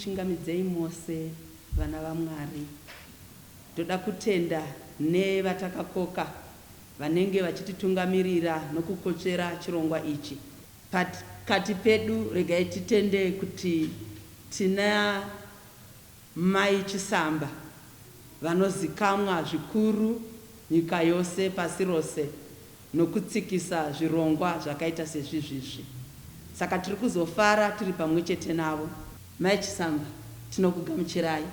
kuchingamidzei mose vana vamwari ndoda kutenda nevatakakoka vanenge vachititungamirira nokukotsvera chirongwa ichi Pakati pedu regai titende kuti tina Mai Chisamba vanozikamwa zvikuru nyika yose pasi rose nokutsikisa zvirongwa zvakaita sezvizvizvi. Saka tiri kuzofara tiri pamwe chete navo. Mai Chisamba tinokugamuchirai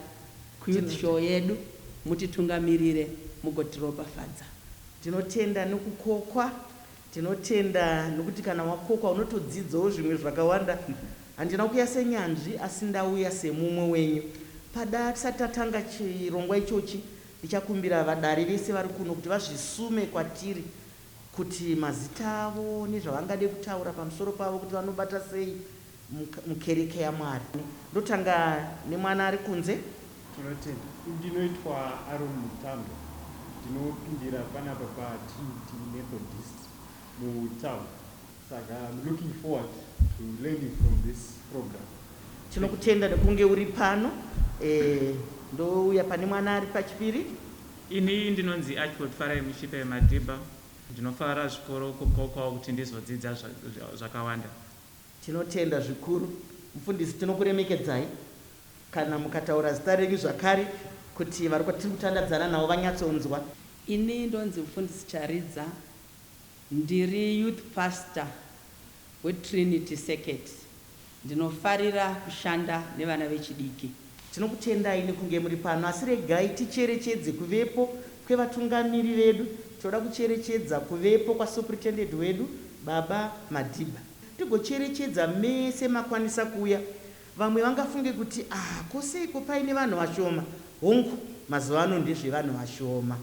kuYouth Show yedu mutitungamirire mugotiropafadza. Tinotenda nokukokwa Tinotenda nokuti kana wakokwa unotodzidzawo zvimwe zvakawanda. Handina kuuya senyanzvi asi ndauya semumwe wenyu. Pada tisati tatanga chirongwa ichochi ndichakumbira vadare vese vari kuno kuti vazvisume kwatiri kuti mazita avo nezvavangade kutaura pamusoro pavo kuti vanobata sei. mukereke yaMwari. Ndotanga nemwana ari kunze. Tinotenda. Ndinoitwa Aaron Mutambo ndinopindira panapa pa Trinity Methodist mu town saka I'm looking forward to learning from this program. Tinokutenda nekunge uri pano. Ndouya pane mwana ari pachipiri. Ini ndinonzi Archibald Farai Mushipe Madiba. Ndinofara zvikuru kuqokwawo kuti ndizodzidza zvakawanda. Tinotenda zvikuru mufundisi tinokuremekedzai kana mukataura zita renyu zvakare kuti vari tiri kutandadzana navo vanyatsonzwa. Ini ndonzi Mfundisi Charidza ndiri youth pastor weTrinity Circuit ndinofarira kushanda nevana vechidiki. Tinokutendai nekunge muri pano asi regai ticherechedze kuvepo kwevatungamiri vedu. Tinoda kucherechedza kuvepo kwaSupritendent wedu, Baba Madiba, tigocherechedza mese makwanisa kuuya. Vamwe vangafunge kuti, Ah, ko seiko paine vanhu vashoma? Hongu, mazuva ano ndezvevanhu vashoma.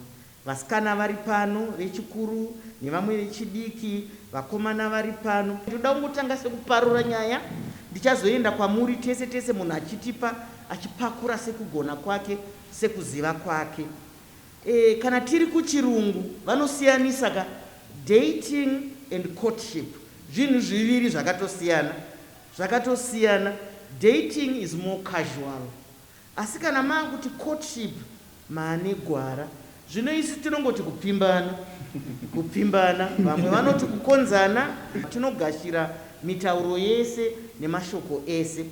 Vasikana vari pano, vechikuru nevamwe vechidiki, vakomana vari pano. Ndoda kungotanga sekuparura nyaya, ndichazoenda kwamuri tese tese munhu achitipa, achipakura sekugona kwake, sekuziva kwake. Eh, kana tiri kuchirungu, vanosiyanisa ka, dating and courtship, zvinhu zviviri zvakatosiyana, zvakatosiyana. Dating is more casual, Asi kana maakuti courtship maane gwara zvino isu tinongoti kupfimbana kupfimbana vamwe vanoti kukonzana tinogashira mitauro yese nemashoko ese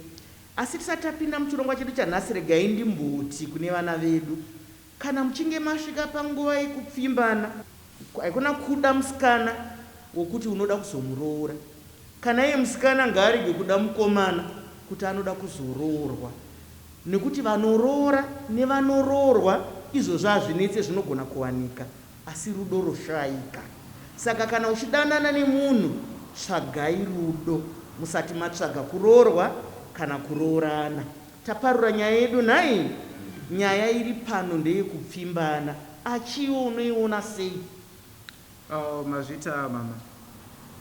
asi tisati tapinda muchirongwa chedu chanhasi regai ndimboti kune vana vedu Kana muchinge masvika panguva yekupfimbana, haikona kuda musikana wokuti unoda kuzomuroora. Kana iye musikana ngaarege kuda mukomana kuti anoda kuzoroorwa nekuti vanoroora nevanoroorwa izvozvo hazvinetse zvinogona kuwanika asi rudo roshaika. Saka kana uchidanana nemunhu tsvagai rudo musati matsvaga kuroorwa kana kuroorana. Taparura nyaya yedu nhai? Nyaya iri pano ndeyekupfimbana achi iwe unoiona sei? Aww mazvita mama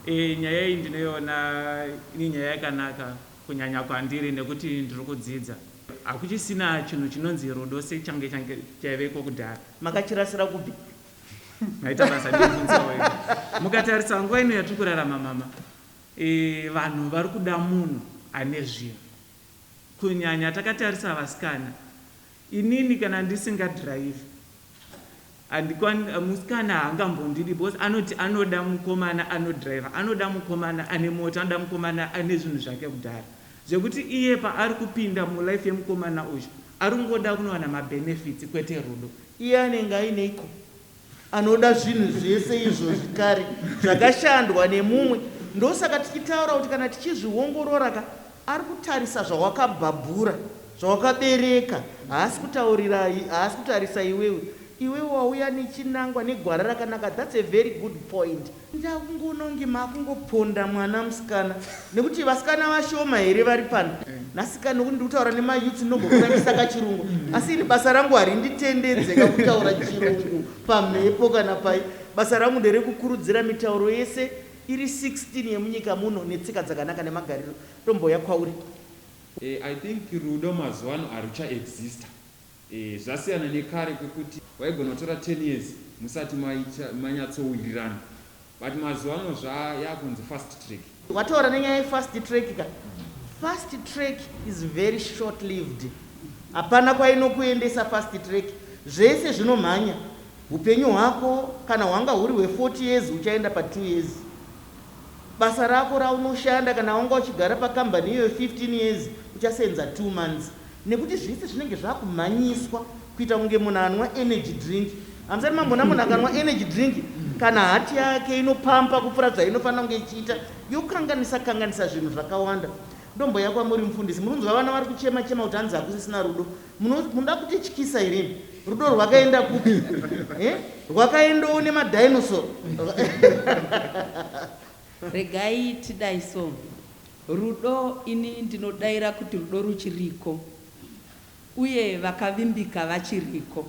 eeh nyaya iyi ndinoiona ini nyaya yakanaka kunyanya kwandiri nekuti ndiri kudzidza hakuchisina chinhu chinonzi rudo sechange change chaiveko kudhara. Makachirasira kupi? Maita basa ndinobvunza wega. Mukatarisa nguva ino yatiri kurarama mama eeh vanhu vari kuda munhu ane zvinhu. kunyanya takatarisa vasikana inini kana ndisinga drive handikwan musikana haangambondidi because anoti anoda mukomana anodriver anoda mukomana ane mota anoda mukomana ane zvinhu zvake kudhara zvekuti iye paari kupinda mulife yemukomana uyu ari kungoda kunowana mabenefits kwete rudo iye anenge aineiko Anoda zvinhu zvese izvozvi kare zvakashandwa nemumwe ndosaka tichitaura kuti kana tichizviongorora ka ari kutarisa zvawakabhabhura zvawakabereka haasi kutaurira haasi kutarisa iwewe iwewe wauya nechinangwa negwara rakanaka that's a very good point Ndakungonongi makungoponda mwana musikana nekuti vasikana vashoma here vari pano nhasika nokuti ndiri kutaura nemayuts ndinombokutangisa kachirungu asi ini basa rangu harinditendedze kakutaura chirungu pamhepo kana pai basa rangu nderekukurudzira mitauro yese iri 16 yemunyika muno netsika dzakanaka nemagariro ndombouya kwauri e, i think rudo mazuva ano haruchaexista Eeh zvasiyana nekare kwekuti waigona kutora ten years musati manyatsowirirana but mazuvano zvaa yakunzi fast track. Wataura nenyaya ye fast track ka. Fast track is very short lived hapana kwainokuendesa fast track zvese zvinomhanya hupenyu hwako kana hwanga huri hwe 40 years huchaenda pa two years basa rako raunoshanda kana wanga uchigara pa kambani iyoyo 15 years uchasenza two months Nekuti zvese zvinenge zvakumhanyiswa kuita kunge munhu anwa energy drink. Hamusati mamboona munhu akanwa energy drink kana heart yake inopampa kupfuura zvainofanira kunge ichiita yokanganisa kanganisa zvinhu zvakawanda. Ndomboya kwamuri mufundisi munonzwa vana vari kuchema chema kuti hanzi hakusisina rudo. Muno, munoda kutityisa here imi? Rudo rwakaenda kupi? Eh? Rwakaendawo nemadinosaur. Regai tidai so. Rudo ini ndinodaira kuti rudo ruchiriko uye vakavimbika vachiriko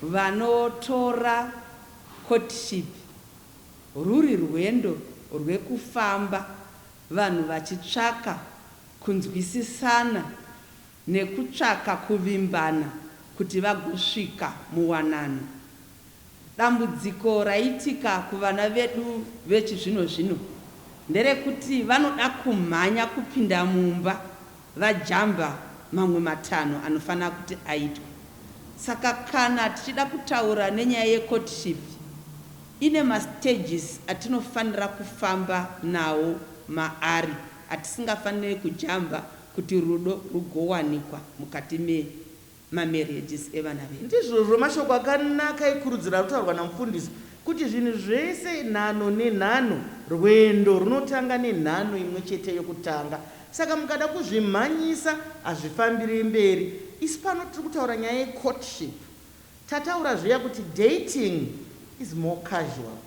vanotora courtship rwuri rwendo rwekufamba vanhu vachitsvaka kunzwisisana nekutsvaka kuvimbana kuti vagosvika muwanano. Dambudziko raitika kuvana vedu vechizvino zvino nderekuti vanoda kumhanya kupinda mumba vajamba mamwe matanho anofanira kuti aitwe. Saka kana tichida kutaura nenyaya yecourtship ine mastages atinofanira kufamba nawo maari atisingafanire kujamba Kuti rudo rugowanikwa mukati me ma marriages evana vedu. Ndizvozvo mashoko akanaka ekurudziro arikutaurwa namufundisi kuti zvinhu zvese nhanho nenhanho rwendo runotanga nenhanho imwechete yokutanga saka mukada kuzvimhanyisa hazvifambire mberi isu pano tiri kutaura nyaya ye courtship tataura zviya kuti dating is more casual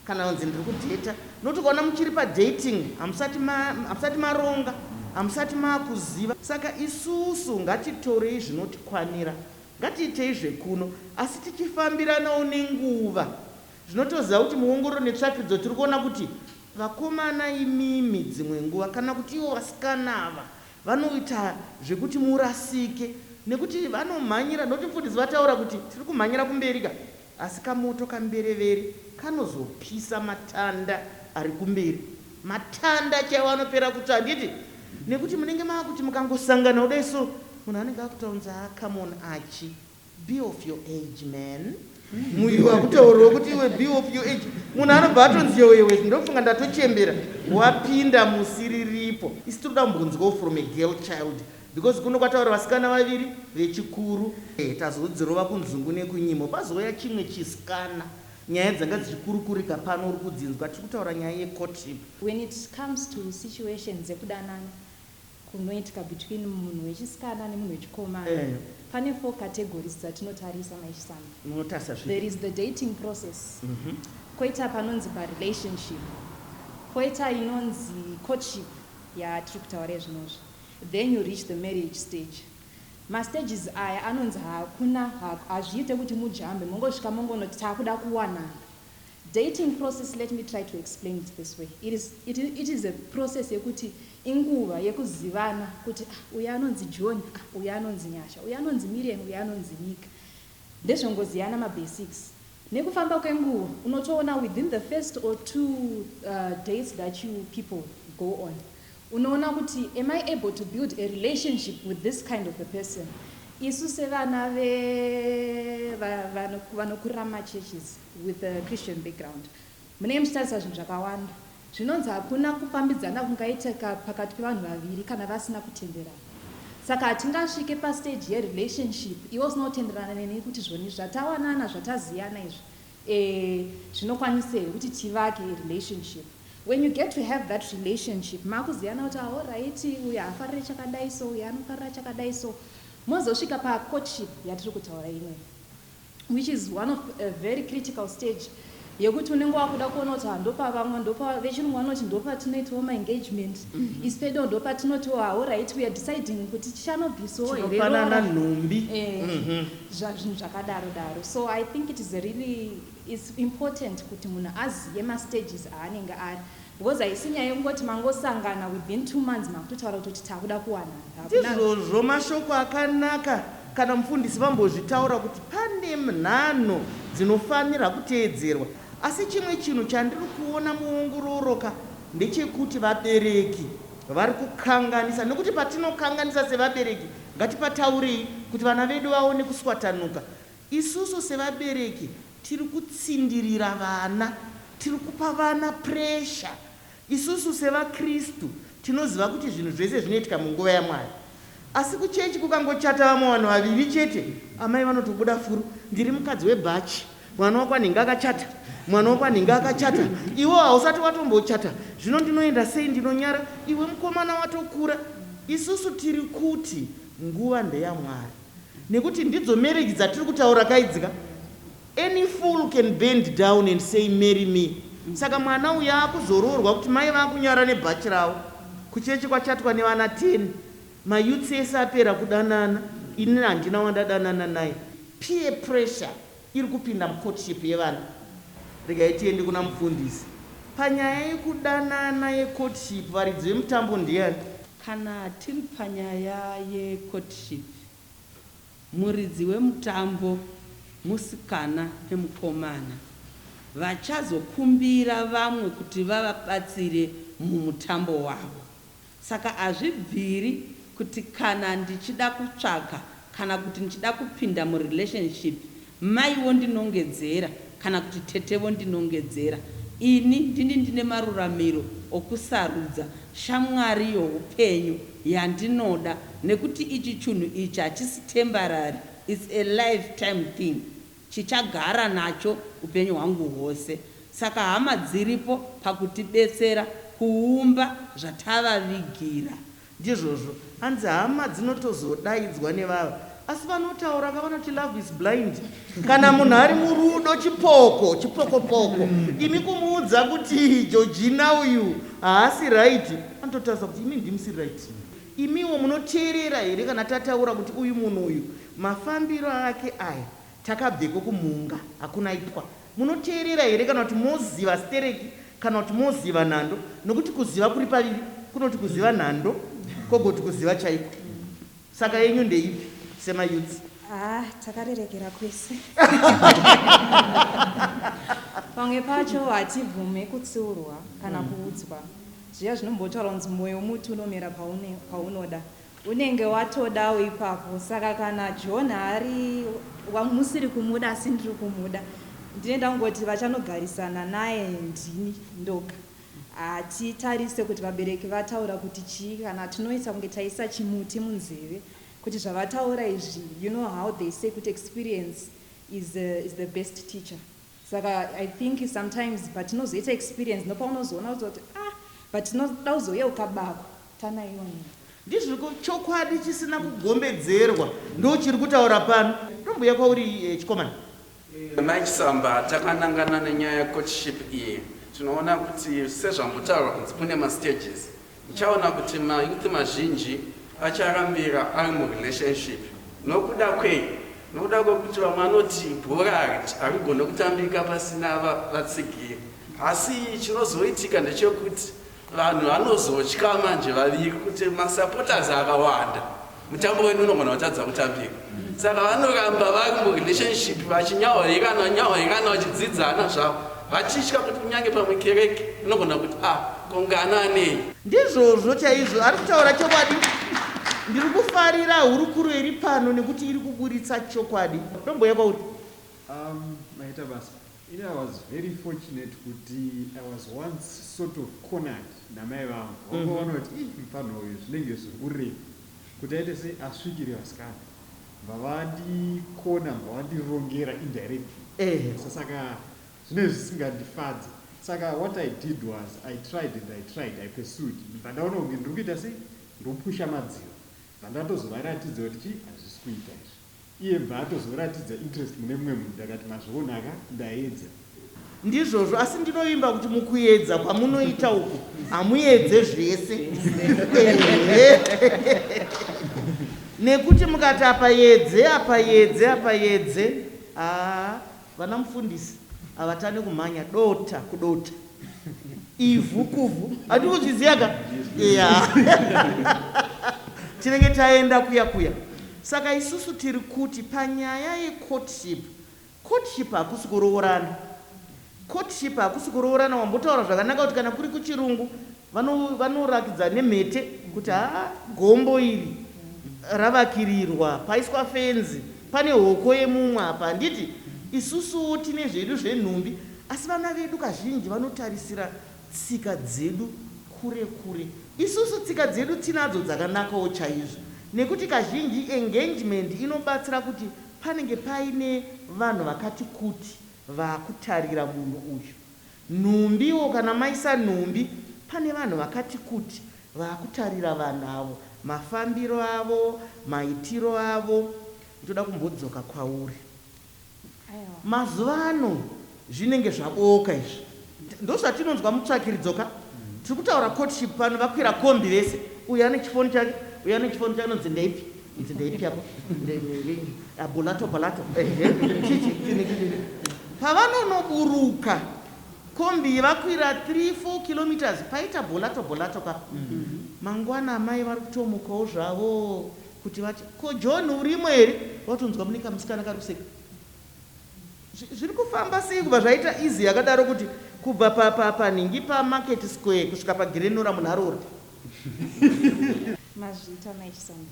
Kana unzi ndiri kudheta not ukaona muchiri padating hamusati ma, hamusati maronga hamusati maakuziva saka isusu ngatitorei zvinotikwanira ngatiitei zvekuno asi tichifambiranawo nenguva zvinotoziva kuti muongororo netsvakirudzo tiri kuona kuti vakomana imimi dzimwe nguva kana kuti ivo vasikana ava vanoita zvekuti murasike nekuti vanomhanyira not mfundisi vataura kuti tiri kumhanyira kumberi ka Asi kamoto kamberevere kanozopisa matanda ari kumberi. Matanda chaiwo anopera kutsva handiti? Nekuti munenge maakuti mukangosangana kudai so munhu anenge akutaunza haa come on Archie be of your age man. Muviri wakutaurawo kuti iwe be of your age. Munhu anobva atonzi yowewes ndofunga ndatochembera wapinda musi riripo. Isu tiri kuda kumbonzwawo from a girl child Because kuno kwataura vasikana vaviri vechikuru. Ehe tazodzirova kunzungu nekunyimo pazouya chimwe chiskana. Nyaya dzanga dzichikurukurika pano uri kudzinzwa tiri kutaura nyaya ye courtship. When it comes to situation dzekudanana kunoitika between munhu wechisikana nemunhu wechikomana Eh. pane four categories dzatinotarisa mai Chisamba. Munotarisa zvipi? There is the dating process, koita panonzi pa relationship, koita inonzi courtship yatiri kutaura izvinozvi. Then you reach the marriage stage. Ma stages aya anonzi hakuna hazviite kuti mujambe mongosvika mongonoti takuda kuwanana. Dating process let me try to explain it this way. It is, it is, it is a process yekuti inguva yekuzivana kuti ah uyu anonzi John ah uyu anonzi Nyasha uyu anonzi Miriam uyu anonzi Nika. Ndezvongoziyana ma basics. Nekufamba kwenguva unotoona within the first or two dates that you people go on unoona kuti am I able to build a relationship with this kind of a person. Isu sevana ve vanokurama churches with a Christian background. Munenge muchitarisa zvinhu zvakawanda. Zvinonzi hakuna kufambidzana kungaitika pakati pevanhu vaviri kana vasina kutenderana. Saka hatingasvike pastage yerelationship iwe usina kutenderana neni kuti zvoni zvatawanana zvataziyana izvi ee zvinokwanisa here kuti tivake relationship. When you get to have that relationship makuziyana kuti ah horaiti uyu haafarire chakadai so uyu anofarira chakadai so mozosvika pacourtship yatiri kutaura inoi. which is one of a very critical stage yekuti unenge wakuda kuona kuti handopavamwa ndopa vechirungu vanoti ndopatinoitiwo maengagement mm -hmm. isu pedo ndopatinotiwo haorit weare deciding kuti tichanobvisawo hereofanana nhumbi eh, mm -hmm. zvazvinhu zvakadaro daro so i think it is really is important kuti munhu azive mastages aanenge ari Because haisi nyaya yekungoti mangosangana within two months makutotaura kutoti takuda kuwanana. Hakuna. Ndizvozvo mashoko akanaka kana mufundisi vambozvitaura kuti pane mnhanho dzinofanirwa kuteedzerwa asi chimwe chinhu chandiri kuona muongororoka ndechekuti vabereki vari kukanganisa nekuti patinokanganisa sevabereki ngatipataurei kuti vana vedu vaone kuswatanuka Isusu sevabereki tiri kutsindirira vana, tiri kupa vana puresha. Isusu sevaKristu tinoziva kuti zvinhu zvese zvinoitika munguva yaMwari. Asi kuchechi kukangochata vamwe vanhu vaviri chete, amai vanotobuda furo, Ndiri mukadzi webhachi, mwana wako anenge akachata, mwana wako anenge akachata, iwewo hausati watombochata, zvino ndinoenda sei? Ndinonyara, iwe mukomana watokura. Isusu tiri kuti nguva ndeyaMwari. Nekuti ndidzo marriage dzatiri kutaura ka idzi ka. Any fool can bend down and say marry me. Saka mwana uyu akuzoroorwa kuti mai vakunyara nebhachi ravo. Kuchechi kwachatwa nevana ten. Mayouths ese apera kudanana. Ini handina wandadanana naye. Peer pressure iri kupinda mucourtship yevana. Regai tiende kuna mufundisi. Panyaya yekudanana yecourtship varidzi vemutambo ndiani? Kana tiri panyaya yecourtship, muridzi wemutambo, musikana nemukomana, vachazokumbira vamwe kuti vavabatsire mumutambo wavo. Saka hazvibviri kuti kana ndichida kutsvaga kana kuti ndichida kupinda mu relationship mai vondinongedzera kana kuti tete vondinongedzera ini ndini ndine maruramiro okusarudza shamwari youpenyu yandinoda nekuti ichi chunhu ichi hachisi tembarary it's a life time thing chichagara nacho upenyu hwangu hwose saka hama dziripo pakutibetsera kuumba zvatavavigira Ndizvozvo. Hanzi hama dzinotozodaidzwa nevava asi vanotaura ka vanoti love is blind. Kana munhu ari murudo chipoko chipokopoko imi kumuudza kuti Georgina uyu haasi right anototarisa kuti imi ndimusiri right imiwo munoteerera here kana tataura kuti uyu munhu uyu mafambiro ake aya takabveko kumhunga hakuna ipwa Munoteerera here kana kuti moziva stereki kana kuti moziva nhando nokuti kuziva kuri paviri kunoti kuziva nhando kogoti kuziva chaiko. Saka yenyu ndeipi sema youths? Haa takarerekera kwese. Pamwe pacho hatibvume kutsiurwa kana kuudzwa zviya zvinombotaurwa kunzi moyo muti unomera paunoda Unenge watodawo ipapo saka kana John ari wamusiri kumuda asi ndiri kumuda ndine ndangoti vachanogarisana naye ndini ndoga. Hatitarise kuti vabereki vataura kuti chii kana tinoita kunge taisa chimuti munzeve kuti zvavataura izvi you know how they say kuti experience is the best teacher. Saka I think sometimes patinozoita experience ndopaunozoona kuzoti ah but tinoda kuzoyeuka bako tanaionera. Ndizvo chokwadi chisina kugombedzerwa ndochiri kutaura pano. Ndombuya kwauri chikomana. Mai Chisamba takanangana nenyaya yecourtship iyi tinoona kuti sezvambotaura kunzi kune mastages Uchaona kuti ma youth mazhinji acharambira ari mu relationship. Nokuda kwei? Nokuda kwekuti vamwe vanoti bhora harigone kutambika pasina vatsigiri. Asi chinozoitika ndechekuti vanhu vanozotya manje vaviri kuti ma supporters akawanda. Mutambo wedu unogona kutadza kutambika. Saka vanoramba vari murelationship vachinyahwairana nyahwairana vachidzidzana zvavo vachitya kuti kunyange pamwe kereke inogona kuti ah kongana anei. Ndizvozvo chaizvo, ari kutaura chokwadi. Ndiri kufarira hurukuro iri pano nekuti iri kuburitsa chokwadi. Ndomboya kwauri. Umm maita basa. Ini I was very fortunate kuti I was once sort of cornered namai vangu vakangoona kuti ii mupfanha uyu zvinenge zviri kurema kuti aite sei asvikire vasikana mbavha vandicorner mbavha vandirongera indirectly Ehe. so saka zvinenge zvisingandifadze saka what I did was I tried and I tried I pursued ndibva ndaona kunge ndiri kuita sei ndiri kupusha madziro ndibva ndatozovaratidza kuti chii hazvisi kuita izvi. Iye bva atozoratidza interest mune mumwe munhu ndakati mazviona ka ndaedza. Ndizvozvo asi ndinovimba kuti mukuedza kwamunoita uku hamuedze zvese ehe nekuti mukati apaedze apaedze apaedze haa Vana mufundisi havatane kumhanya dota kudota ivhu kuvhu hati kuzviziva ka ya tinenge taenda kuya kuya saka isusu tiri kuti panyaya yecourtship courtship hakusi kuroorana courtship hakusi kuroorana wambotaura zvakanaka kuti kana kuri kuchirungu Vano vanorakidza nemhete kuti haa gombo iri ravakirirwa paiswa fenzi pane hoko yemumwe apa handiti? Isusuwo tine zvedu zvenhumbi asi vana vedu kazhinji vanotarisira tsika dzedu kure kure. Isusu tsika dzedu tinadzo dzakanakawo chaizvo nekuti kazhinji engagement inobatsira kuti panenge paine vanhu vakati kuti vakutarira munhu uyu. Nhumbi or kana maisa nhumbi pane vanhu vakati kuti vakutarira vanhu avo mafambiro avo maitiro avo ndoda kumbodzoka kwauri mazuva ano zvinenge zvabooka izvi ndozvatinonzwa mutsvakiridzo ka tiri kutaura courtship pano vakwira kombi vese uyu ane chifoni chake uyu ane chifoni chake anonzi ndeipi Idzi ndeipi apo? Bolato bolato. Ehe. Chichi chini chini. Pavanonoburuka kombi iyi vakwira 3 4 kilometers paita bolato bolato ka. Mangwana amai vari kutomukawo zvavo kuti vati ko John urimo here? Watonzwa mune kamusikana kari kuseka. Zvi- Zviri kufamba sei kubva zvaita easy yakadaro kuti kubva pa pa panhingi pa market square kusvika pa Grenora munharo uri. Mazviita mai Chisamba.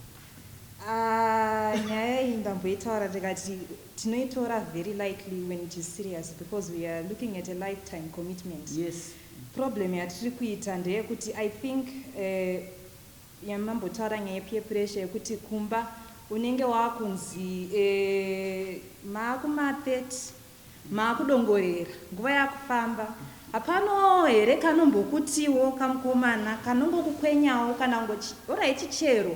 Ah, nyaya iyi ndamboitaura ndikati tinoitora very lightly when it is serious because we are looking at a lifetime commitment. Yes. Problem yatiri kuita ndeyekuti I think eh, yamambotaura nyaya yepeer pressure yekuti kumba unenge wakunzi eh, maakuma 30 Maakudongorera. Nguva yakufamba. Hapano here kanombokutiwo kamukomana kanongokukwenyawo kana kungochi horaiti chero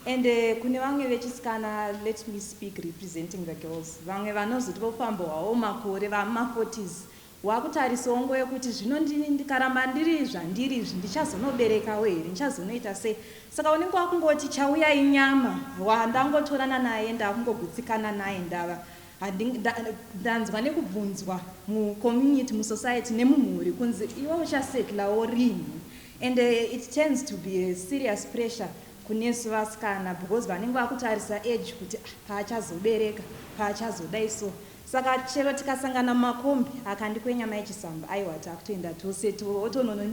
and kune vamwe vechisikana let me speak representing the girls vamwe vanozoti vofamba hwawo makore vama 40s wakutarisawo nguva yekuti zvino ndini ndikaramba ndiri zvandiri izvi ndichazonoberekawo here ndichazonoita sei saka unenge wakungoti chauya inyama wandangotorana naye ndakungogutsikana naye ndava Handing nda, ndanzwa nekubvunzwa mu community mu society nemumhuri kunzi iwe uchasettlawo rinhi and it turns to be a serious pressure kunesu vasikana because vanenge vakutarisa age kuti ah, paachazobereka paachazodai so saka chero tikasangana mumakombi akandikwenya mai chisamba aiwa takutoenda tose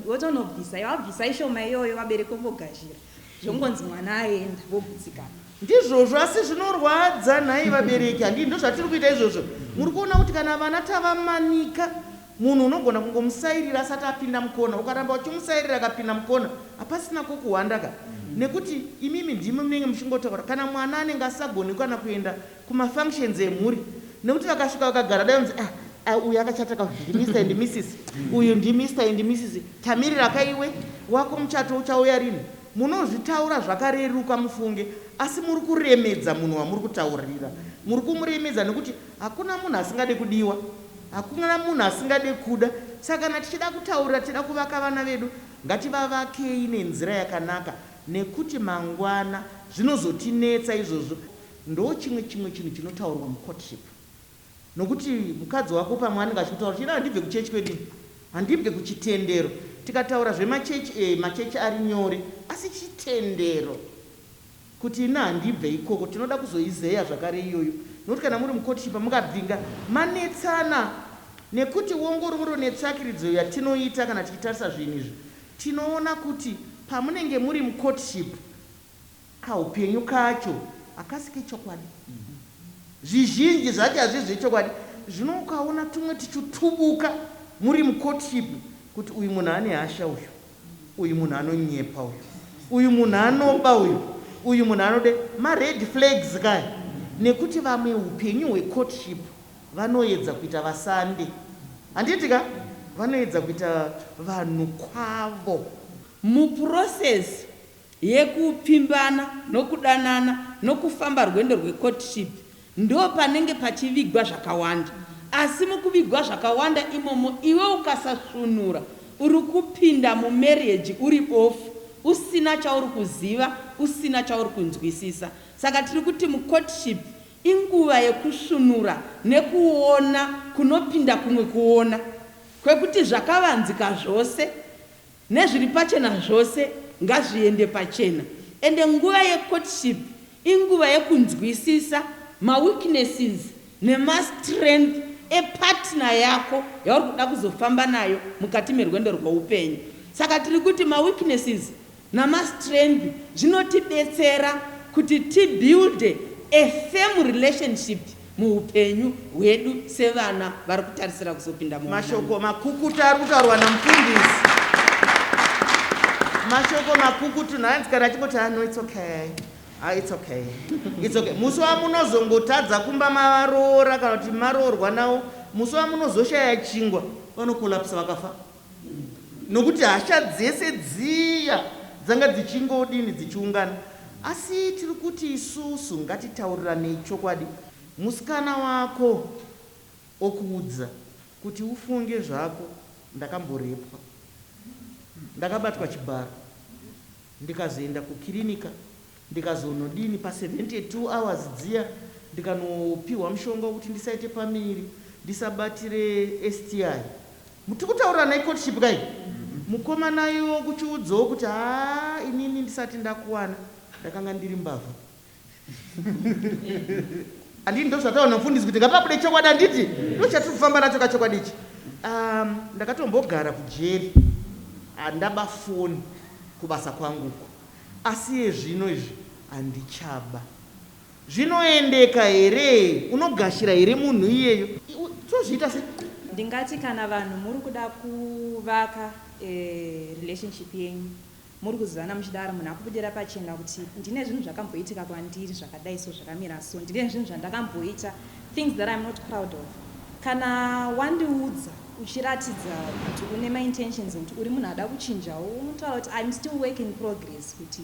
wotonobvisa yawabvisa ishoma iyoyo vabereki vongogazhira Zvongonzi mwana aenda vogutsikana. Ndizvozvo asi zvinorwadza nhai vabereki handii ndozvatiri kuita izvozvo muri kuona kuti kana vana tavamanika munhu unogona kungomusairira asati apinda mukona ukaramba uchimusairira akapinda mukona hapasina kokuhwanda ka nekuti imimi ndimi munenge muchingotaura kana mwana anenge asagoni kana kuenda Kuma functions emhuri nekuti vakasvika vakagara dai unzi ah ah uyu akachata ka ndi Mister and Missis uyu ndi Mister and Missis tamirira ka iwe wako muchato uchauya rinhi munozvitaura zvakareruka mufunge asi muri kuremedza munhu wamuri kutaurira muri kumuremedza nekuti hakuna munhu asingade kudiwa hakuna munhu asingade kuda saka kana tichida kutaurira tichida kuvaka vana vedu ngativavakei nenzira yakanaka nekuti mangwana zvinozotinetsa izvozvo Ndochimwe chimwe chinhu chinotaurwa mu courtship nokuti mukadzi wako pamwe anenge achikutaura kuti ini handibve kuchurch kwedu ini handibve kuchitendero tikataura zvema church ee ma church ari nyore asi chitendero kuti ini handibve ikoko tinoda kuzoizeya zvakare iyoyo nokuti kana muri mu courtship mukabvinga manetsana nekuti wongororo netsvakiridzo yatinoita kana tichitarisa zvinhu izvi tinoona kuti pamunenge muri mu courtship Kaupenyu kacho hakasi kechokwadi. Zvizhinji zvacho hazvisi zvechokwadi. Zvino ukaona tumwe tichutubuka muri mucourtship kuti uyu munhu ane hasha uyu, uyu munhu anonyepa uyu, uyu munhu anoba uyu, uyu munhu anode, mared flags kaya. Nekuti vamwe hupenyu hwecourtship vanoedza kuita vasande. Handiti ka? Vanoedza kuita vanhu kwavo. Muprocess yekupfimbana nokudanana nokufamba rwendo rwecourtship ndopanenge pachivigwa zvakawanda asi mukuvigwa zvakawanda imomo iwe ukasasvunura uri kupinda mumarriage uri bofu usina chauri kuziva usina chauri kunzwisisa saka tiri kuti mucourtship inguva yekusvunura nekuona kunopinda kumwe kuona kwekuti zvakavanzika zvose Nezviri pachena zvose ngazviende pachena ende nguva ye courtship inguva yekunzwisisa ma weaknesses nema strength e partner yako yauri kuda kuzofamba nayo mukati merwendo rweupenyu. Saka tiri kuti ma weaknesses nama strength zvinotibetsera kuti ti builde a firm relationship. muhupenyu hwedu sevana vari kutarisira kuzopinda muwanano. Mashoko makukutu ari kutaurwa namufundisi. Mashoko makukutu nhanzi kana achingoti ah no it's okay. Ah it's okay. It's okay. Musi wamunozongotadza kumba mavaroora kana kuti maroorwa nawo musi wamunozoshaya chingwa vanokolapsa vakafa. nokuti hasha dzese dziya dzanga dzichingodini dzichiungana asi tiri kuti isusu ngatitauriranei chokwadi musikana wako okuudza kuti ufunge zvako ndakamborepwa ndakabatwa chibharo ndikazoenda kukirinika Ndikazonodini pa 72 hours dziya ndikanopihwa mushonga wekuti ndisaite pamiri ndisabatire STI. Tiri kutaurira ana ecourtship ka iyi. Mukomana iwo kuchiudzawo kuti haa inini ndisati ndakuwana ndakanga ndiri mbavha. Handiti ndozvataura namufundisi kuti ngapabude chokwadi handiti? Ndochatiri kufamba nacho ka chokwadi ichi. Umm ndakatombogara kujeri handaba foni kubasa kwangu uko. Asi iye zvino izvi handichaba. Zvinoendeka here? Unogashira here munhu iyeyo? Tozviita sei? Ndingati kana vanhu muri kuda kuvaka relationship yenyu muri kuzivana muchidaro munhu akubudira pachena kuti ndine zvinhu zvakamboitika kwandiri zvakadai so zvakamira so ndine zvinhu zvandakamboita Things that I'm not proud of. Kana wandiudza uchiratidza kuti une maintentions ekuti uri munhu ada kuchinjawo unotaura kuti I'm still work in progress kuti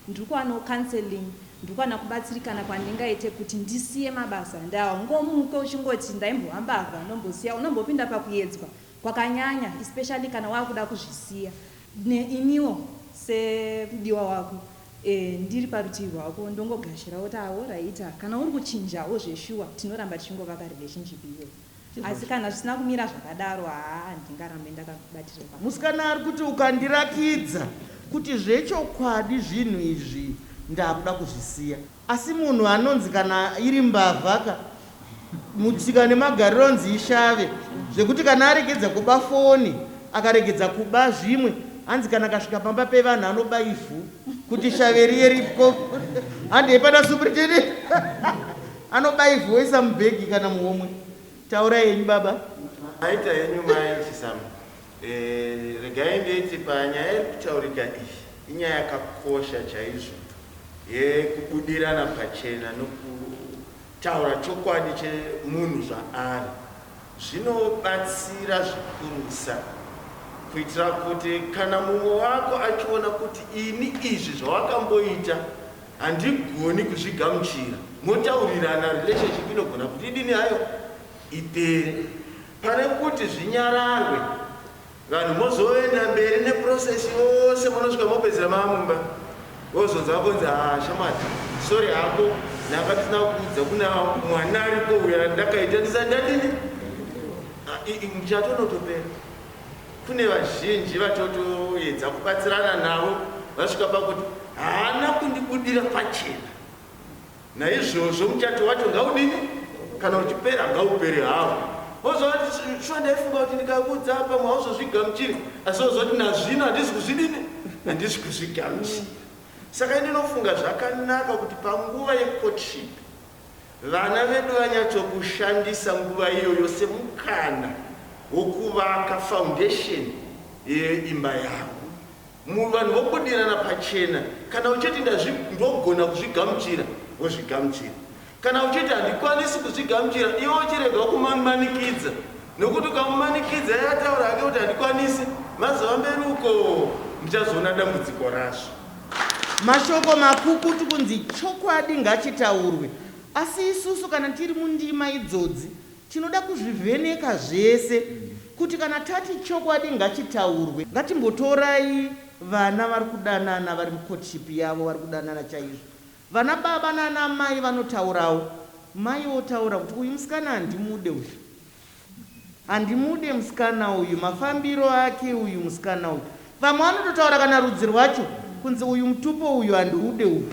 ndiri kuwanawo counseling ndiri kuwana kubatsirikana kwandingaite kuti ndisiye mabasa and haungomuke uchingoti ndaimbowa mbavha ndombosiya unombopinda pakuyedzwa kwakanyanya especially kana wakuda kuzvisiya neimiwo semudiwa wako Eeh ndiri parutivi rwako ndongogashirawo tawo raita kana uri kuchinjawo zveshuwa tinoramba tichingova pa relationship iyo asi kana zvisina kumira zvakadaro haa handingarambe ndakakubatira pa Musikana ari kuti ukandirakidza kuti zvechokwadi zvinhu izvi ndakuda kuzvisiya. Asi munhu anonzi kana iri mbavha ka mutsika nemagariro anonzi ishave zvekuti kana aregedza kuba foni akaregedza kuba zvimwe hanzi kana akasvika pamba pevanhu anoba ivhu kuti shave riye ripko handi hepana supriteni anoba ivhu oisa mubhegi kana muhomwe taura yenyu baba Maita henyu mai Chisamba. Regai nditi panyaya iri kutaurika iyi inyaya yakakosha chaizvo yekubudirana pachena nokutaura chokwadi chemunhu zvaari. Zvinobatsira zvikurusa kuitira kuti kana mumwe wako achiona kuti ini izvi zvawakamboita handigoni kuzvigamuchira, motaurirana relationship inogona kuti idini hayo? Ipere. Pane kuti zvinyararwe vanhu mozoenda mberi ne process yose monosvika mopedzera mamumba vozonzwa konzi haa shamwari sorry hako ndanga tisina kuudza kuna mwana ariko uya ndakaita ndisandadini muchatonotopera kune vazhinji vatotoedza kubatsirana navo vasvika pakuti haana kundibudira pachena Naizvozvo muchato wacho ngaudini? Kana uchipera ngaupere hawo. Wozva kuti shuwa ndaifunga kuti ndikakuudza apa mwauzozvigamuchiri asi wozva kuti nazvino handizi kuzvidini? Handizi kuzvigamuchira. Saka ndinofunga zvakanaka kuti panguva yecourtship vana vedu vanyatsokushandisa nguva iyoyo semukana wokuvaka foundation yeimba yavo. Mur vanhu vobudirana pachena kana uchiti ndazvi ndogona kuzvigamuchira wozvigamuchira kana uchiti handikwanisi kuzvigamuchira iwe uchirega kumanikidza nokuti ukamumanikidza iye ataura hake kuti handikwanisi mazova mberi uko muchazoona dambudziko razvo. Mashoko makukutu kunzi chokwadi ngachitaurwe asi isusu kana tiri mundima idzodzi Tinoda kuzvivheneka zvese kuti kana tati chokwadi ngachitaurwe. Ngatimbotorai vana vari kudanana vari mucourtship yavo vari kudanana chaizvo. Vana baba nana mai vanotaurawo. Mai votaura kuti uyu musikana handimude uyu. Handimude musikana uyu mafambiro ake uyu musikana uyu. Vamwe vanototaura kana rudzi rwacho kunzi uyu mutupo uyu handiude uyu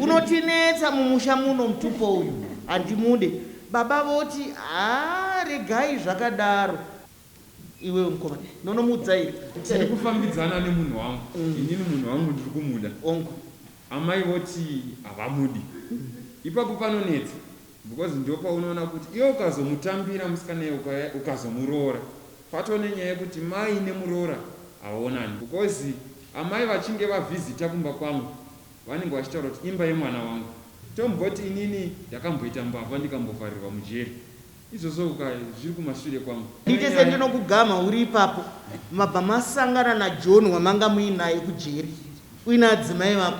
unotinetsa mumusha muno mutupo uyu handimude baba voti haa regai zvakadaro iwewe mukoma ndonomuudza here tiri kufambidzana nemunhu wangu inini munhu wangu ndiri kumuda amai voti havamudi ipapo panonetsa Because ndopaunoona kuti iwe ukazomutambira musikana iye ukazomuroora patove nenyaya yekuti mai nemuroora havaonani because amai vachinge vavhizita kumba kwangu vanenge vachitaura kuti imba yemwana wangu tomboti inini ndakamboita mbavha ndikambovharirwa mujeri izvozvo uka zviri kumashure kwangu Handiti sendinokugamha uri ipapo mabva masangana naJohn wamanga muinaye kujeri. Uine adzimai vako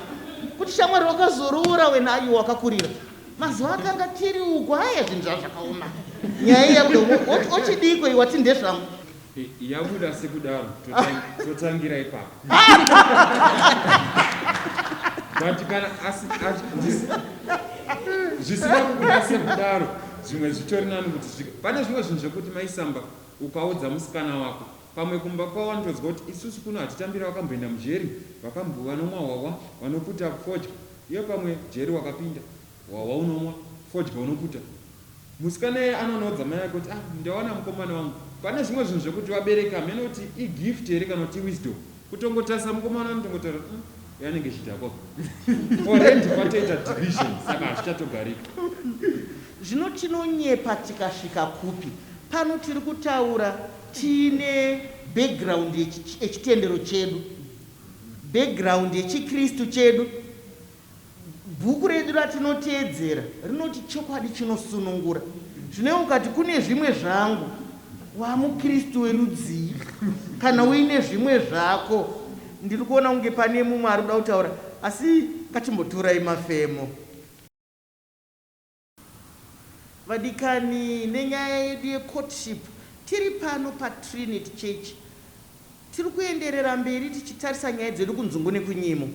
kuti shamwari wakazoroora wena ayo wakakurira mazuva akanga tiri uko haya zvinhu zvava zvakaoma nyaya yabuda ochidiiko iwati ndezvangu yabuda sekudaro totangira ipapo but kana zvisina kubuda sekudaro zvimwe zvitori nani kuti pane zvimwe zvinhu zvekuti maisamba ukaudza musikana wako Pamwe kumba kwavo vanotoziva kuti isusu kuno hatitambira vakamboenda mujeri vakambo vanomwa hwahwa vanoputa fodya iwe pamwe jeri wakapinda hwahwa unomwa fodya unoputa musikana iye anonoudza mai vake kuti ah ndawana mukomana wangu pane zvimwe zvinhu zvekuti vabereki hameno kuti igift here kana kuti iwisdom kutongotarisa mukomana anotongotaura umm uyu anenge chidhakwa already kwatoita division saka hazvichatogarika Zvino tinonyepa tikasvika kupi? Pano tiri kutaura Tiine background yechitendero chedu, background yechiKristu chedu. Bhuku redu ratinoteedzera rinoti chokwadi chinosunungura. Zvino ukati kune zvimwe zvangu, wamuKristu werudzii? Kana uine zvimwe zvako, ndiri kuona kunge pane mumwe ari kuda kutaura, asi ngatimbotorai mafemo. Vadikani nenyaya yedu ye courtship tiri pano pa Trinit church tiri kuenderera mberi tichitarisa nyaya dzedu kunzungu nekunyimo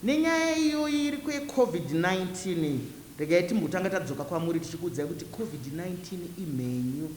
nenyaya iyoyi iriko ye covid 19 iyi regai timbotanga tadzoka kwamuri tichikuudzai kuti covid 19 imhenyu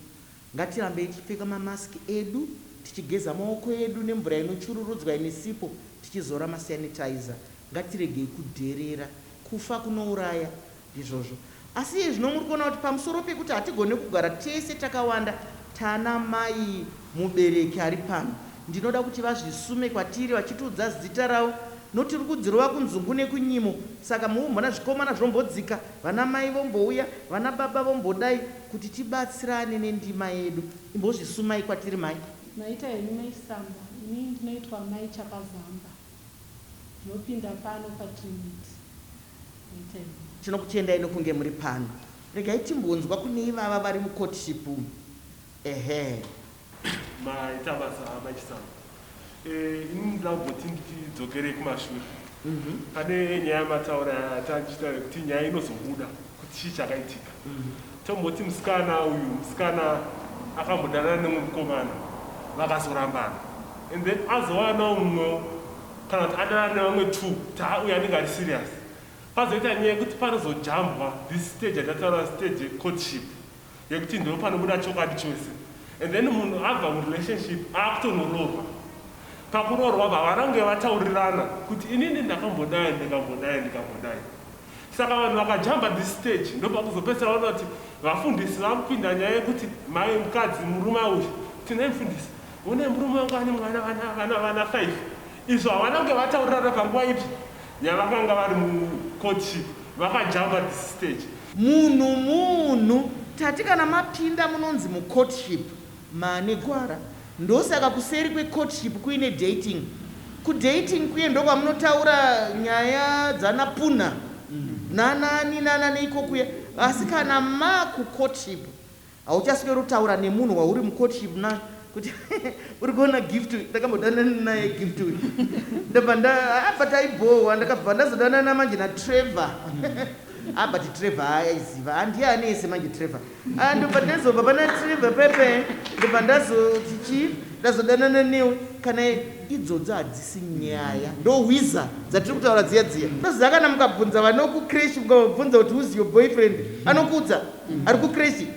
ngatirambei tichipfeka ma mask edu tichigeza maoko edu nemvura inochururudzwa ine sipo tichizora ma sanitizer ngatiregei kudherera kufa kunouraya Ndizvozvo. Asi iye zvino muri kuona kuti pamusoro pekuti hatigone kugara tese takawanda tana mai mubereki ari pano, ndinoda kuti vazvisume kwatiri vachitiudza zita ravo nokuti tiri kudzirova kunzungu nekunyimo. Saka mukumbona zvikomana zvombodzika, vana mai vombouya, vana baba vombodai kuti tibatsirane nendima yedu. Imbozvisumai kwatiri mai. Maita henyu mai Samba. Ini ndinoitwa mai Chakazamba. Ndinopinda pano pa two minutes regai ndinzwe. Tinokutendai nokunge muri pano. Regai timbonzwa kune ivava vari mu courtship umu. Ehe. Maita basa amai Chisango. Eh ini ndinoda kumboti ndidzokerei kumashure. Pane nyaya yamataura yatanga tichitaura yekuti nyaya inozobuda. kuti chii chakaitika tomboti musikana uyu musikana akambodanana nemwe mukomana vakazorambana and then azowanawo mumwewo kana kuti adanana nevamwe two kuti ha uyu anenge ari serious pazoita nyaya yekuti panozojambwa this stage yatataura stage yecourtship yekuti ndipo panobuda chokwadi chose and then munhu abva murelationship akutonoroorwa pakuroorwa bva varange vataurirana kuti inini ndakambodai ndikambodai ndikambodai saka vanhu vakajamba this stage ndopakuzopedzisira vaona kuti vafundisi vakupinda nyaya yekuti mai mukadzi murume auya tinai mfundisi une murume wangu ane mwana vana vana vana five Izvo havanange vataurana panguva ipi yavakanga vari mu courtship vakajamba this stage. Munhu munhu tati kana mapinda munonzi mu courtship maane gwara ndosaka kuseri kwe courtship kuine dating. Ku dating kuye ndokwamunotaura nyaya dzana punha nana ani nana neiko kuya asi kana maku courtship Hauchasweri kutaura nemunhu wauri mucourtship na kuti uri kuona gift uyu ndakambodanana naye gift uyu ndobva nda ah, but aibhohwa ndakabva ndazodanana manje natrevor ah but trevor ayaiziva ah, handiye ane yese manje trevor ah, ndobva ndazobva pana trevor pepe ndobva ndazoti chii ndazodanana newe kana Idzodzo hadzisi nyaya. Ndo hwiza dzatiri kutaura dziya dziya. Unoziva kana mukabvunza vanoku creche mukavabvunza kuti who's your boyfriend anokuudza ari ku creche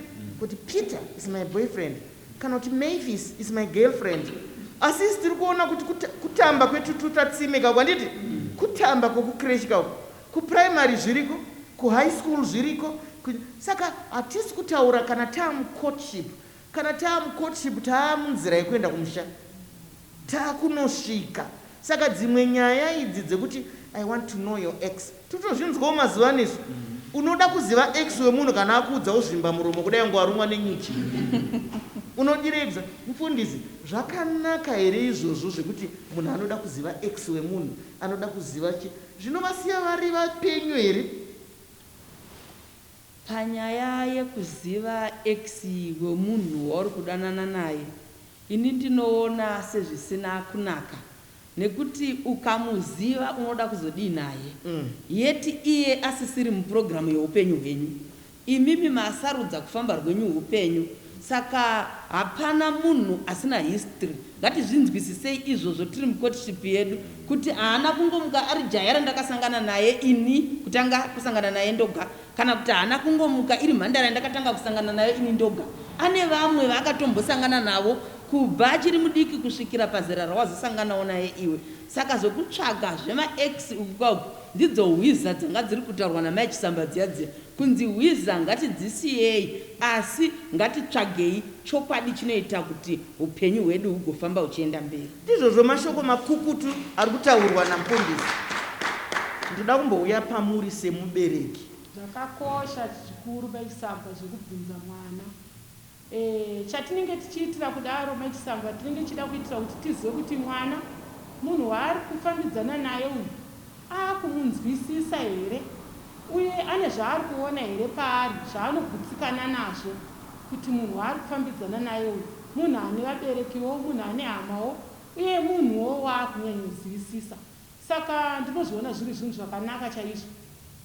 kuti Peter is my boyfriend kana kuti Mavis is my girlfriend asi isu tiri kuona kuti kutamba kwetututa tsime kako handiti kutamba kweku creche kako ku primary zviriko ku high school zviriko saka hatisi kutaura kana tamu courtship Kana taa mu courtship taa munzira yekuenda kumusha. Taa kunosvika. Saka dzimwe nyaya idzi dzekuti I want to know your ex totozvinzwawo mazuva ano isu. Unoda kuziva ex wemunhu kana akuudza wozvimba muromo kudai kunge warumwa nenyuchi. Unodirei bsa mfundisi. Zvakanaka here izvozvo zvekuti munhu anoda kuziva ex wemunhu anoda kuziva chi zvinovasiya vari vapenyu here. Panyaya yekuziva ex wemunhu wauri kudanana naye ini ndinoona sezvisina kunaka nekuti ukamuziva unoda kuzodii naye yet iye asisiri muprogram yeupenyu hwenyu. Imimi masarudza kufamba rwenyu hupenyu saka hapana munhu asina history ngatizvinzwisisei izvozvo tiri mucourtship yedu kuti haana kungomuka ari jaya randakasangana naye ini kutanga kusangana naye ndoga Kana kuti haana kungomuka iri mhandara yandakatanga kusangana nayo ini ndoga. Ane vamwe vaakatombosangana navo kubva achiri mudiki kusvikira pazera rawazosanganawo naye iwe. Saka zvekutsvaga zvema ex uku kwauku ndidzo hwiza dzanga dziri kutaurwa namai Chisamba dziya dziya. Kunzi hwiza ngatidzisiyei asi ngatitsvagei chokwadi chinoita kuti hupenyu hwedu hugofamba huchienda mberi. Ndizvozvo mashoko makukutu ari kutaurwa namupondesi. Ndoda kumbouya pamuri semubereki. Zvakakosha zvikuru mai Chisambwa zvekubvunza mwana. Eeh chatinenge tichiitira kudaro mai Chisambwa tinenge tichida kuitira kuti tizive kuti mwana munhu waari kufambidzana naye uyu. Akumunzwisisa here uye ane zvaari kuona here paari zvaanogutsikana nazvo kuti munhu waari kufambidzana naye uyu munhu ane vaberekiwo, munhu ane hamawo uye munhuwo waakunyanyozivisisa. Saka ndinozviona zviri zvinhu zvakanaka chaizvo.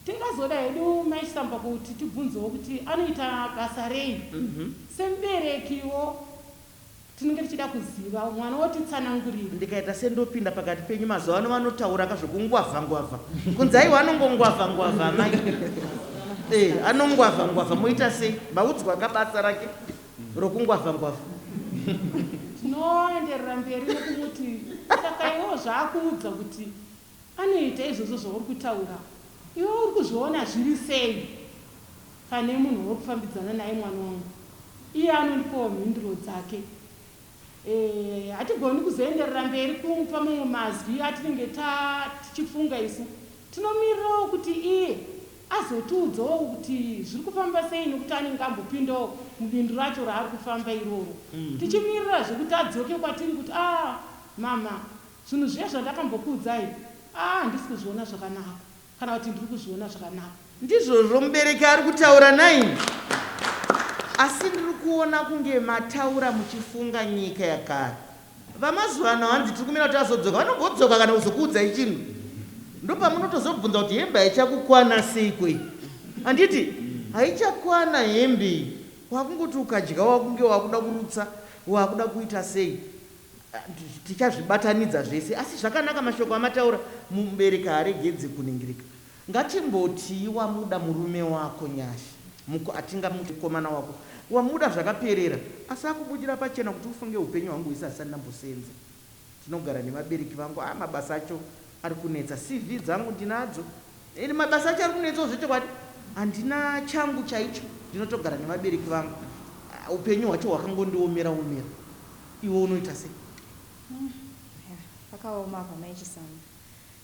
Tingazoda hedu Mai Samba kuti tibvunzewo kuti anoita basa rei semuberekiwo. Tinenge tichida kuzivawo. Mwana wotitsanangurira. Ndikaita sendopinda pakati penyu mazuva ano vanotaura ka zvekungwavha ngwavha kunzi aiwa anongongwavha ngwavha amai eh anongwavha ngwavha moita sei maudzwa ka basa rake rokungwavha ngwavha. Tinoenderera mberi nekumuti saka iwewo zvaakuudza kuti Anoita izvozvo zvauri kutaura iwe uri kuzviona zviri sei pane munhu wauri kufambidzana naye mwana wangu iye anondipawo mhinduro dzake eeh hatigoni kuzoenderera mberi kumupa mamwe mazwi atinenge ta tichifunga isu tinomirirawo kuti iye azotiudzawo kuti zviri kufamba sei nekuti anenge ambopindawo mubindu racho raari kufamba iroro tichimirira zvekuti adzoke kwatiri kuti aah mhamha Zvinhu zviya zvandakambokuudzai ah handisi kuzviona zvakanaka kana kuti ndiri kuzviona zvakanaka. Ndizvozvo mubereki ari kutaura nhaimi asi ndiri kuona kunge mataura muchifunga nyika yakare. Vamazuva ano hanzi tiri kumira kuti azodzoka vanongodzoka kana kuzokuudzai chinhu ndopamunotozobvunza kuti hembe haichakukwana seiko iyi handiti haichakwana hembe iyi wakungoti ukadya wakunge wakuda kurutsa wakuda kuita sei. Tichazvibatanidza zvese asi zvakanaka mashoko amataura mubereki haaregedze kunhingirika. Ngatimbotii wamuda murume wako Nyasha muko atingamuti mukomana wako wamuda zvakaperera asi akubudira pachena kuti ufunge hupenyu hwangu hwese handisati ndambosenza ndinogara nevabereki vangu haa mabasa acho arikunetsa CV dzangu ndinadzo and mabasa acho arikunetsawo zvechokwadi handina changu chaicho ndinotogara nevabereki vangu upenyu hwacho hwakangondiomera omera Iwe unoita sei? Umm yaa pakaoma apa mai Chisango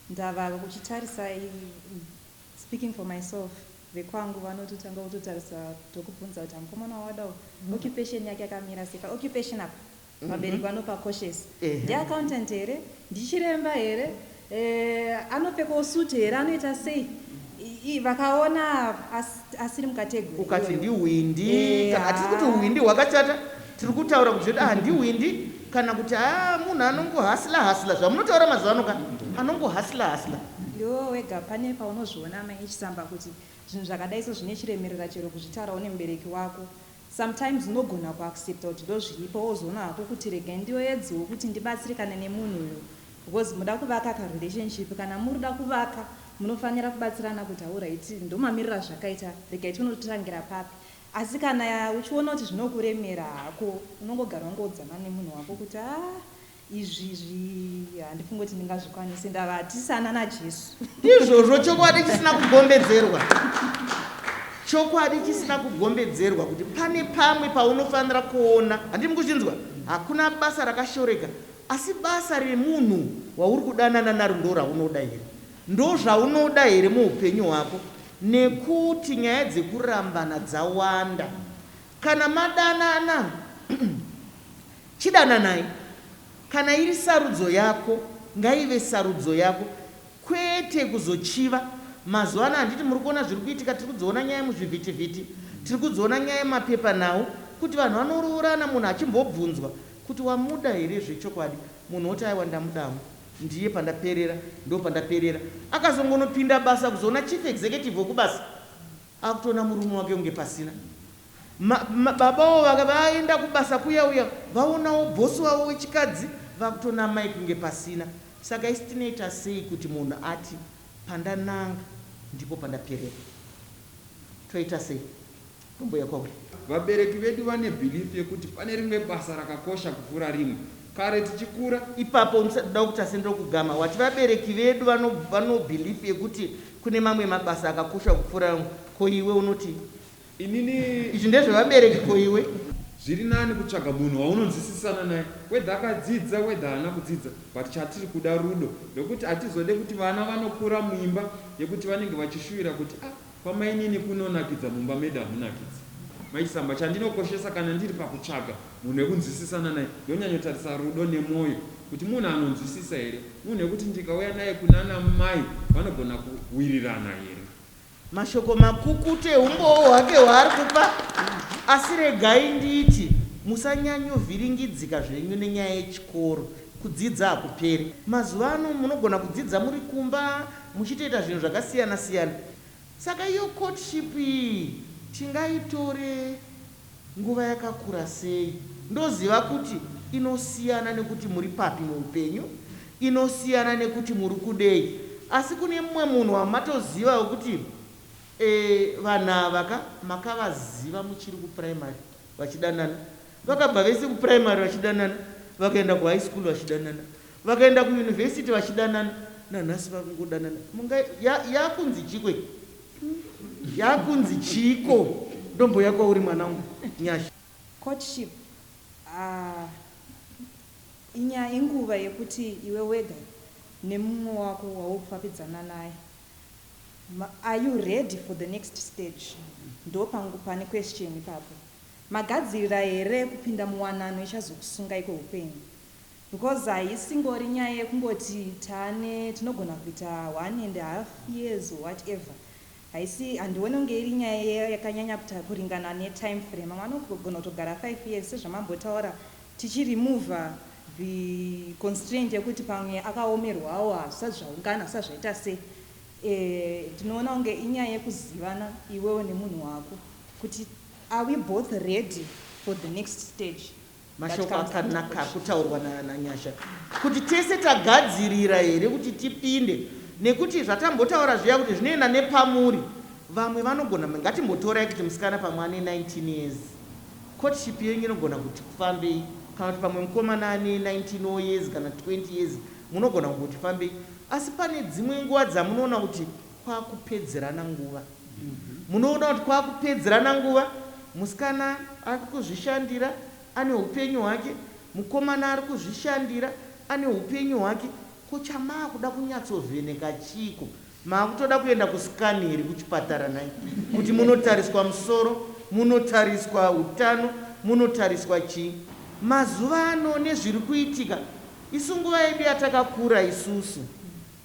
ndava kuchitarisai umm speaking for myself vekwangu vanototanga kutotarisa tokubvunza kuti amukomana wawada uyu occupation yake yakamira sei pa occupation apa vabereki vanopa cautious ndiAccountant here ndichiremba here Eh, anopfekawo suit here anoita sei? I- i- Vakaona as- asiri mukategori. ukati ndihwindi Eh, kana hatisi kuti ah. hwindi hwakachata tiri kutaura kuti ah ndihwindi kana kuti ah munhu anongohasila hasila zvamunotaura mazuva ano ka anongohasila hasila Ndiwe wega pane paunozviona mai Chisamba kuti zvinhu zvakadai so zvine chiremerera chero kuzvitaura une mubereki wako. Sometimes unogona ku accepta kuti ndozviripo wozoona hako kuti regai ndioedzewo kuti ndibatsirikane nemunhu uyu because muda kuvaka ka relationship kana murikuda kuvaka munofanira kubatsirana kuti alright ndomamiriro azvakaita regai tione kuti totangira papi asi kana uchiona kuti zvinokuremera hako unongogara wangoudzana nemunhu wako kuti haa Izvi izvi handifunge kuti ndingazvikwanise ndava tisana naJesu. Ndizvozvo chokwadi chisina kugombedzerwa. Chokwadi chisina kugombedzerwa kuti pane pamwe paunofanira kuona, handimi kuzvinzwa? Hakuna basa rakashoreka, asi basa remunhu wauri kudanana naro ndoraunoda here? Ndozvaunoda here muupenyu hwako? Nekuti nyaya dzekurambana dzawanda. Kana madanana. Chidananai. Kana iri sarudzo yako ngaive sarudzo yako kwete kuzochiva. Mazuva ano handiti muri kuona zviri kuitika tiri kudziona nyaya muzvivhitivhiti, tiri kudziona nyaya mumapepanhau kuti vanhu vanoroorana munhu achimbobvunzwa kuti wamuda here zvechokwadi munhu woti aiwa ndamuda hangu ndiye pandaperera ndopandaperera. Akazongonopinda basa kuzoona chief executive wekubasa. Akutoona murume wake kunge pasina. Ma, ma, baba wo vaka vaenda kubasa kuya uya vaonawo boss wavo wechikadzi vakutoona amai kunge pasina. Saka isu tinoita sei kuti munhu ati pandananga ndipo pandaperera. Toita sei? Tombouya kwauri. Vabereki vedu vane belief yekuti pane rimwe basa rakakosha kupfuura rimwe. kare tichikura. Ipapo ndisati ndakupsa seni ndokugama wati vabereki vedu vano vano belief yekuti kune mamwe mabasa akakosha kupfuura amwe ko iwe unoti Inini izvi ndezvevabereki ko iwe. Zviri nani kutsvaga munhu waunonzwisisana naye whether akadzidza whether haana kudzidza but chatiri kuda rudo nekuti hatizode kuti vana vanokura muimba yekuti vanenge vachishuvira kuti ah Kwamainini kunonakidza mumba medu hamunakidzi. Mai Chisamba, Chandinokoshesa kana ndiri pakutsvaga munhu wekunzwisisana naye ndonyanyotarisa rudo nemwoyo kuti munhu anonzwisisa here, munhu wekuti ndikauya naye kunana mai vanogona kuwirirana here. Mashoko makukutu eumbowo hwake hwaari kupa asi regai nditi musanyanyovhiringidzika zvenyu nenyaya yechikoro. Kudzidza hakuperi. Mazuva ano munogona kudzidza muri kumba Muchitoita zvinhu zvakasiyana siyana saka iyo courtship iyi tingaitore nguva yakakura sei ndoziva kuti inosiyana nekuti muri papi muupenyu, inosiyana nekuti muri kudei asi kune mumwe munhu wamatoziva wekuti eeh vanhu ava ka makavaziva muchiri kuprimary vachidanana vakabva vese kuprimary vachidanana vakaenda kuhigh school vachidanana Vakaenda ku university vachidanana nanhasi vari kungodanana munga ya yakunzi chiiko iyi yakunzi chiiko ndomboya kwauri mwana wangu nyasha. Courtship aah inyaya inguva yekuti iwe wega nemumwe wako waukufapidzana naye ma are you ready for the next stage ndopangu pane question ipapo magadzirira here kupinda muwanano ichazokusungai kweupenyu Because haisingori nyaya yekungoti tane tinogona kuita one and half years or whatever haisi handione kunge iri nyaya yakanyanya kuta kuringana ne time frame vamwe vanogona kutogara five years sezvamambotaura tichi remover the constraint yekuti pamwe akaomerwawo hazvisati zvaungana hazvisati zvaita se eh, ndinoona kunge inyaya yekuzivana iwewo nemunhu wako kuti are we both ready for the next stage Mashoko akanaka akutaurwa na na Nyasha kuti tese tagadzirira here kuti tipinde nekuti zvatambotaura zviya kuti zvinoenda nepamuri vamwe vanogona ngatimbotorai kuti musikana pamwe ane 19 years courtship yenyu inogona kuti kufambei kana kuti pamwe mukomana ane 19 or years kana 20 years munogona kumboti fambei asi pane dzimwe nguva dzamunoona kuti kwakupedzerana nguva Munoona kuti kwakupedzerana nguva, musikana ari kuzvishandira ane hupenyu hwake, mukomana ari kuzvishandira ane hupenyu hwake. Ko chamaakuda kunyatsovheneka chiiko? Maakutoda kuenda kuscan here kuchipatara nhai? Kuti munotariswa musoro, munotariswa utano, munotariswa chii? Mazuva ano nezviri kuitika, isu nguva yedu yatakakura isusu.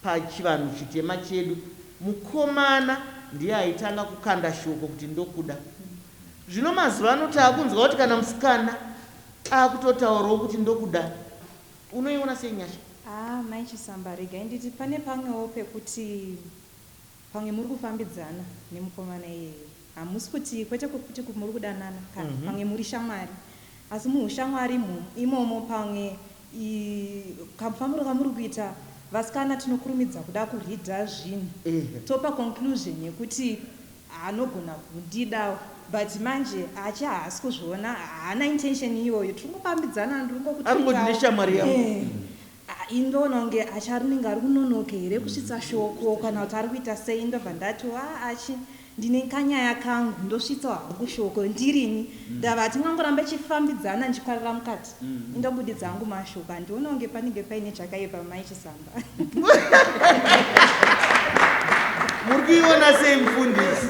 Pachivanhu chitema chedu mukomana ndiye aitanga kukanda shoko kuti ndokuda. Zvino mazuvano takunzwa kuti kana musikana akutotaurawo kuti ndokuda. Unoiona sei nyasha? Haa mai Chisamba regai nditi pane pamwewo pekuti. Pamwe muri kufambidzana nemukomana iyeye hamusi kuti kwete kuti muri kudanana ka pamwe muri shamwari asi muhushamwari imomo imomo pamwe i kamufambiro kamuri kuita vasikana tinokurumidza kuda kureader zvinhu topa conclusion yekuti anogona kundidawo but manje achi haasi kuzviona haana intention iyoyo tiri kungofambidzana ndiri Ari kungoti kungoti ndine shamwari yangu. ehe Ahh indoona kunge Achi arinenge arikunonoke here kusvitsa shoko kana kuti arikuita sei ndobva ndati waa Achi ndine kanyaya kangu ndosvitsa hangu shoko ndirini ndava hatingangorambe tichifambidzana ndichikwarira mukati indobudidza hangu mashoko handione kunge panenge paine chakaipa mai Chisamba Muri kuiona sei mufundisi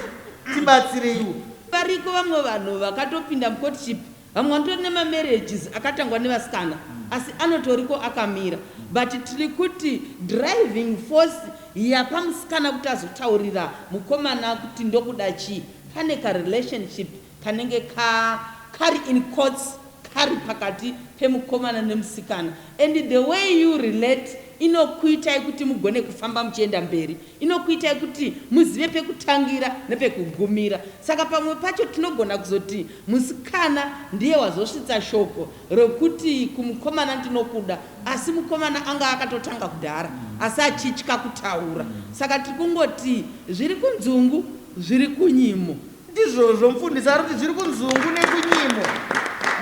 tibatsireiwo. Variko vamwe vanhu vakatopinda mucourtship Vamwe vanotori nema marriages akatangwa nevasikana asi anotoriko akamira but tirikuti driving force yapamusikana kuti azotaurira mukomana kuti ndokuda chii pane ka relationship kanenge ka kari in quotes kari pakati pemukomana nemusikana and the way you relate inokuitai kuti mugone kufamba muchienda mberi Inokuitai kuti muzive pekutangira nepekugumira. Saka pamwe pacho tinogona kuzoti musikana ndiye wazosvitsa shoko rokuti kumukomana ndinokuda asi mukomana anga akatotanga kudhara asi achitya kutaura. Saka tiri kungoti zviri kunzungu zviri kunyimo. Ndizvozvo mfundisi arikuti zviri kunzungu nekunyimo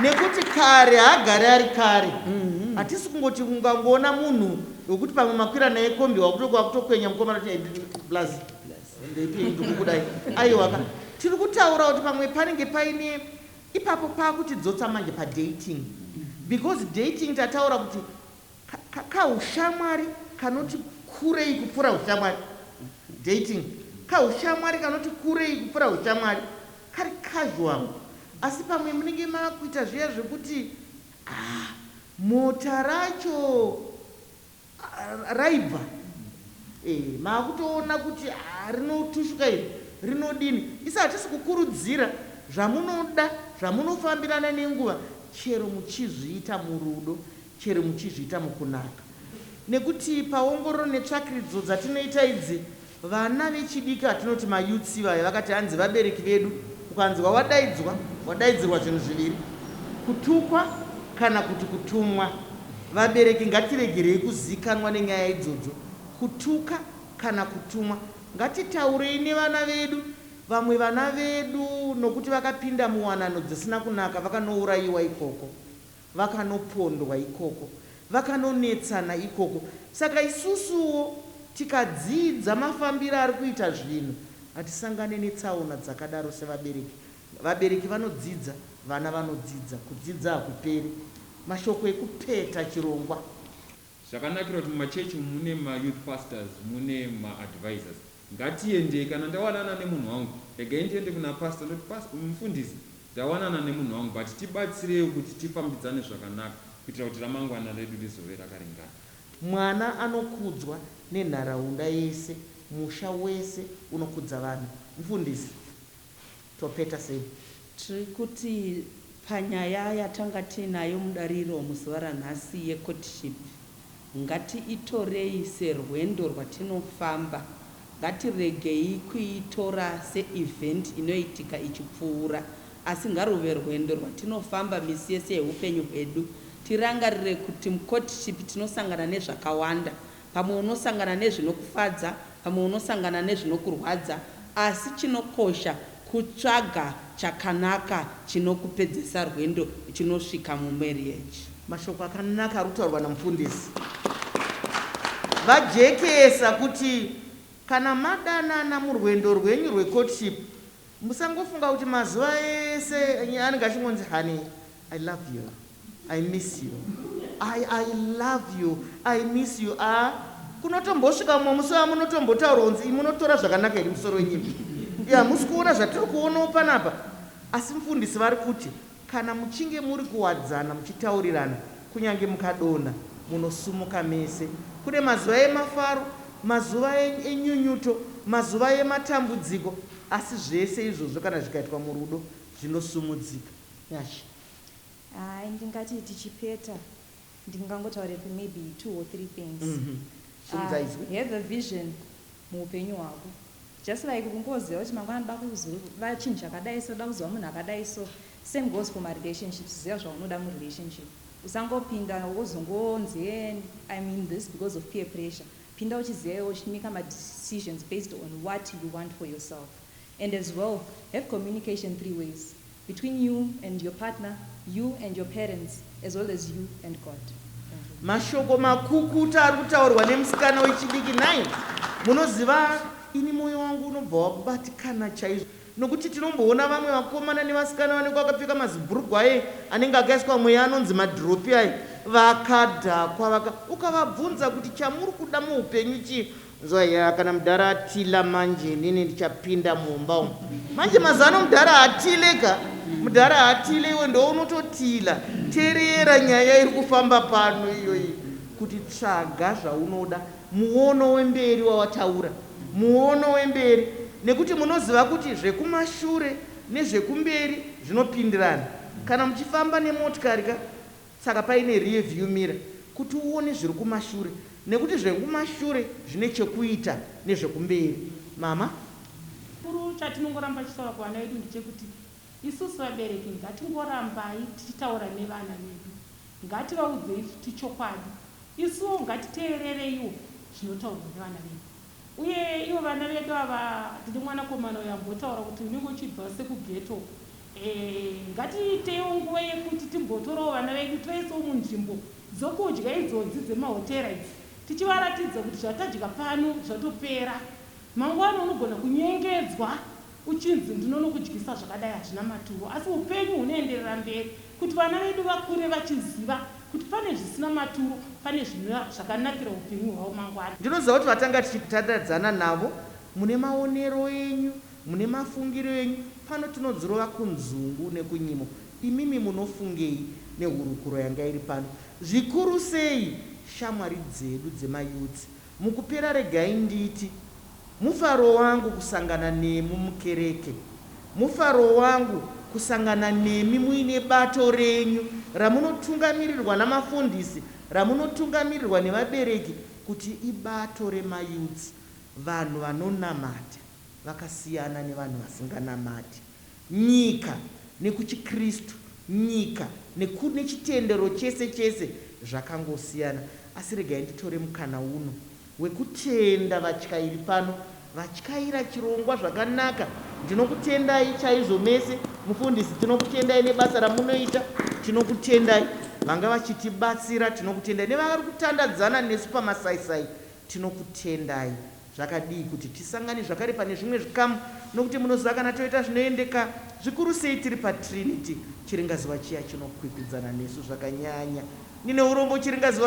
nekuti kare haagari ari kare mhm. hatisi mm -hmm. kungoti ungangoona munhu wekuti pamwe makwira naye kombi wakutokuwa kutokwenya mukomana kuti plus ndipindikudai aiwaka tiri kutaura kuti pamwe panenge paine ipapo paakutidzotsa manje padating because dating tataura kuti Ka, kahushamwari kanoti kurei kupfuura hushamwari. Dating. Kahushamwari kanoti kurei kupfuura hushamwari. Kari casual. Asi pamwe munenge mava kuita zviya zvekuti, ah, mota racho raibva. Eh, mava kutoona kuti, ah, rinotushuka iri, rinodini. Isu hatisi kukurudzira. Zvamunoda, zvamunofambirana nenguva, chero muchizviita murudo. chero muchizviita mukunaka nekuti paongororo netsvakiridzo dzatinoita idzi vana vechidiki vatinoti mayouths ivaya vakati hanzi vabereki vedu ukanzwa wadaidzwa wadaidzirwa zvinhu zviviri kutukwa kana kuti kutumwa vabereki ngatiregerei kuziikanwa nenyaya idzodzo kutuka kana kutumwa ngatitaurei nevana vedu vamwe vana vedu nokuti vakapinda muwanano dzisina kunaka vakanourayiwa ikoko vakanopondwa ikoko, vakanonetsana ikoko. Saka isusuwo tikadzidza mafambiro ari kuita zvinhu hatisangane netsaona dzakadaro sevabereki. Vabereki vanodzidza, vana vanodzidza. Kudzidza hakuperi. Mashoko ekupeta chirongwa. Zvakanakira kuti mumachurch umu mune ma youth pastors mune ma advisors. Ngatiendei kana ndawanana nemunhu wangu regai ndiende kuna pastor ndoti pas mufundisi ndawanana nemunhu wangu but tibatsireiwo kuti tifambidzane zvakanaka kuitira kuti ramangwana redu rizove rakaringana. Mwana anokudzwa nenharaunda yese, musha wese unokudza vana. Mufundisi. topeta sei? Tiri kuti panyaya yatanga tiinayo mudariro muzuva ranhasi yecourtship ngatiitorei serwendo rwatinofamba, ngatiregei kuitora seevent inoitika ichipfuura asi ngaruve rwendo rwatinofamba misi yese yehupenyu hwedu. Tirangarire kuti mucourtship tinosangana nezvakawanda Pamwe unosangana nezvinokufadza, pamwe unosangana nezvinokurwadza, asi chinokosha kutsvaga chakanaka chinokupedzesa rwendo uchinosvika mumarriage. Mashoko akanaka ari kutaurwa naMufundisi vajekesa kuti kana madanana murwendo rwenyu rwecourtship, Musangofunga kuti mazuva ese anenge achingonzi honey I love you I miss you I I love you I miss you aa kunotombosvika mumwe musi vamunotombotaura kunzi imi munotora zvakanaka here musoro wenyimbi yaa hamusi kuona zvatiri kuonawo panapa asi mufundisi vari kuti Kana muchinge muri kuwadzana muchitaurirana, kunyange mukadonha, munosumuka mese. Kune mazuva emafaro, mazuva enyunyuto, mazuva ematambudziko, asi zvese izvozvo kana zvikaitwa murudo, zvinosumudzika. Nyasha. Hi, ndingati tichipeta ndingangotaura for maybe two or three things. Have a vision muhupenyu hwako. Just like kungoziva kuti mangwana ndoda kuziva chinhu chakadai so, ndoda kuziva munhu akadai so. Same goes for marelationships, ziva zvaunoda murelationship. Usangopinda wozongonzi hee I'm in this because of peer pressure. Pinda uchiziva iwe uchimaker madecisions based on what you want for yourself. And as well, have communication three ways. between you and your partner, you and your parents as well as you and God. Mashoko makukutu ari kutaurwa nemusikana wechidiki nhai munoziva ini moyo wangu unobva wakubatikana chaizvo nokuti tinomboona vamwe vakomana nevasikana vanenge vakapfeka mazibhurugwa aye anenge akaiswa mweya anonzi madhiropi aye vakadhakwa vaka ukavabvunza kuti chamuri kuda muupenyu chii Nzwa yaa kana mudhara atila manje inini ndichapinda mumba umu manje mazano mudhara haatile ka mudhara haatile iwe ndounototila tereera nyaya iri kufamba pano iyoyi kuti tsvaga zvaunoda muono wemberi wawataura muono wemberi nekuti munoziva kuti zvekumashure nezvekumberi zvinopindirana kana muchifamba nemotikari ka Saka paine rear view mirror kuti uone zviri kumashure nekuti zvekumashure zvine chekuita nezvekumberi. Mama. Chikuru chatinongoramba tichitaura kuvana vedu ndechekuti isusu vabereki ngatingorambai tichitaura nevana vedu. Ngativaudzei futi chokwadi. Isuwo ngatiteerereiwo zvinotaurwa nevana vedu. Uye ivo vana vedu ava tine mwanakomana uyo ambotaura kuti unenge uchibva sekughetto Eeh ngatiitewo nguva yekuti timbotorawo vana vedu toisawo munzvimbo dzokudya idzodzi dzemahotera idzi tichivaratidza kuti zvatadya pano zvatopera. Mangwana unogona kunyengedzwa uchinzi ndinonokudyisa zvakadai hazvina maturo asi upenyu hunoenderera mberi kuti vana vedu vakure vachiziva kuti pane zvisina maturo pane zvinova zvakanakira upenyu hwavo mangwana. Ndinoziva kuti vatanga tichitandadzana navo mune maonero enyu Mune mafungiro enyu, pano tinodzirova kunzungu nekunyimo. Imimi munofungei nehurukuro yanga iri pano? Zvikuru sei shamwari dzedu dzemaYouths? Mukupera regai nditi, Mufaro wangu kusangana nemu mukereke. Mufaro wangu kusangana nemi muine bato renyu ramunotungamirirwa namafundisi, ramunotungamirirwa nevabereki kuti ibato remaYouths, vanhu vanonamata. vakasiyana nevanhu vasinganamati, nyika nekuchiKristu, nyika neku, nechitendero chese chese zvakangosiyana. Asi regai nditore mukana uno wekutenda vatyairi pano vatyaira chirongwa zvakanaka. Ndinokutendai chaizvo mese. Mufundisi, tinokutendai nebasa ramunoita. Tinokutendai vanga vachitibatsira. Tinokutendai nevari kutandadzana nesu pamasaisai. Tinokutendai. Zvakadii kuti tisangane zvakare pane zvimwe zvikamu, nokuti munoziva kana toita zvinoendeka, zvikuru sei tiri paTrinity, chiringazuva chiya chinokwikwidzana nesu zvakanyanya. Ndine urombo, chiringazuva.